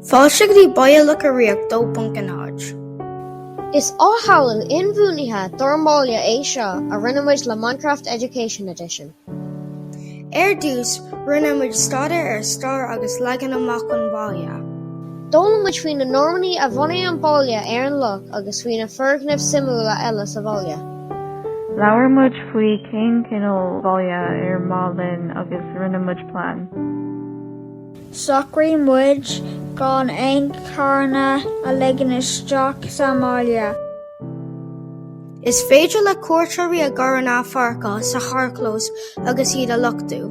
Fáilte go dtí Baile Locha Riach 2.0. Is samhail inbhuanaithe dár mbaile é seo a rinne muid le Minecraft Education Edition. Ar dtús, rinne muid staidéar ar stair agus leagan amach an bhaile. D'fhoghlaim muid faoi na Normannaigh a bhunaigh an baile ar an loch agus faoi na foirgnimh suimiúla eile sa bhaile. Labhair muid faoi cén cineál baile ar mhaith linn agus rinne muid plean. Socraigh muid gan aon charranna a ligean isteach sa mbaile. Is féidir le cuairteoirí a gcarranna a pháirceáil sa charrchlós agus iad a luchtú.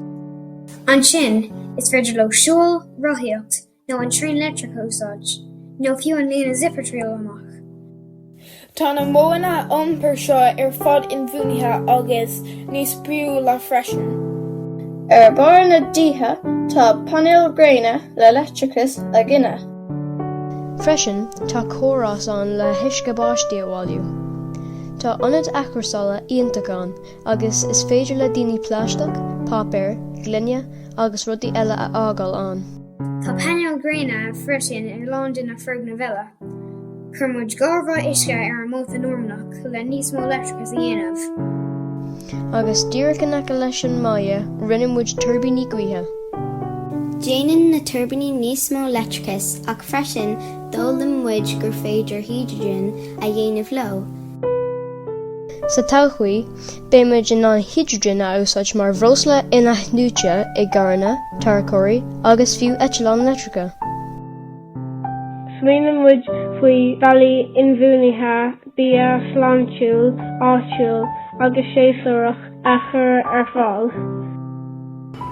Ansin, is féidir leo siúl, rothaíocht nó an traein leictreach a úsáid, nó fiú an líne zip a thriail amach. Tá na modhanna iompair seo ar fad inbhuanaithe agus níos spraíúla freisin. Ar bharr na dtithe tá painéil ghréine le leictreachas a ghineadh. Freisin tá córás ann le huisce báistí a bhailiú. Tá ionad athchúrsála iontach ann agus is féidir le daoine plaisteach, páipéar, gloine agus rudaí eile a fhágáil ann. Tá painéil ghréine freisin ar lán de na foirgnimh eile. Chuir muid dhá roth uisce ar an Móta Normannach le níos mó leictreachas a dhéanamh. Agus díreach in aice leis an mbaile, rinne muid tuirbíní gaoithe. Déanann na tuirbíní níos mó leictreachais ach freisin d'fhoghlaim muid gur féidir hidrigin a dhéanamh leo. Sa todhchaí, beidh muid in ann hidrigin a úsáid mar bhreosla inathnuaite i gcarranna, tarracóirí agus fiú eitleáin leictreacha. Smaoinigh muid faoi bhealaí inbhuanaithe bia sláintiúil, áitiúil agus séasúrach a chur ar fáil.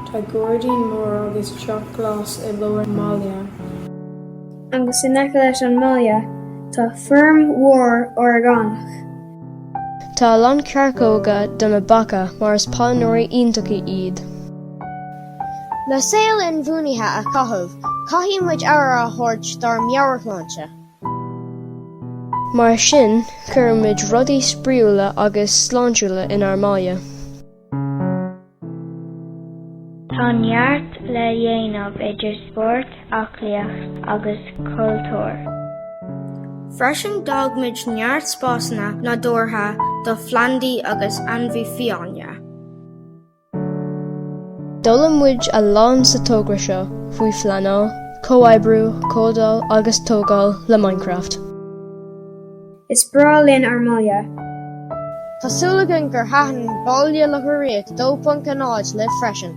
Tá gairdín mór agus teach glas i lár an bhaile. Agus in aice leis an mbaile tá feirm mhór orgánach. Tá a lán coirceoga do na beacha mar is pailneoirí iontacha iad. Le saol inbhuanaithe a chaitheamh, caithfidh muid aire a thabhairt dár meabhairshláinte. Mar sin, cuireann muid rudaí spraíúla agus sláintiúla inár mbaile. Tá neart le dhéanamh idir spórt, aclaíocht agus cultúr. Freisin, d'fhág muid neart spásanna nádúrtha do phlandaí agus ainmhí fiáine. D'fhoghlaim muid a lán sa togra seo faoi phleanáil, comhoibriú, códáil agus tógáil le Minecraft. Is breá linn ár mbaile. Tá súil againn gur thaitin Baile Locha Riach 2.0 libh freisin!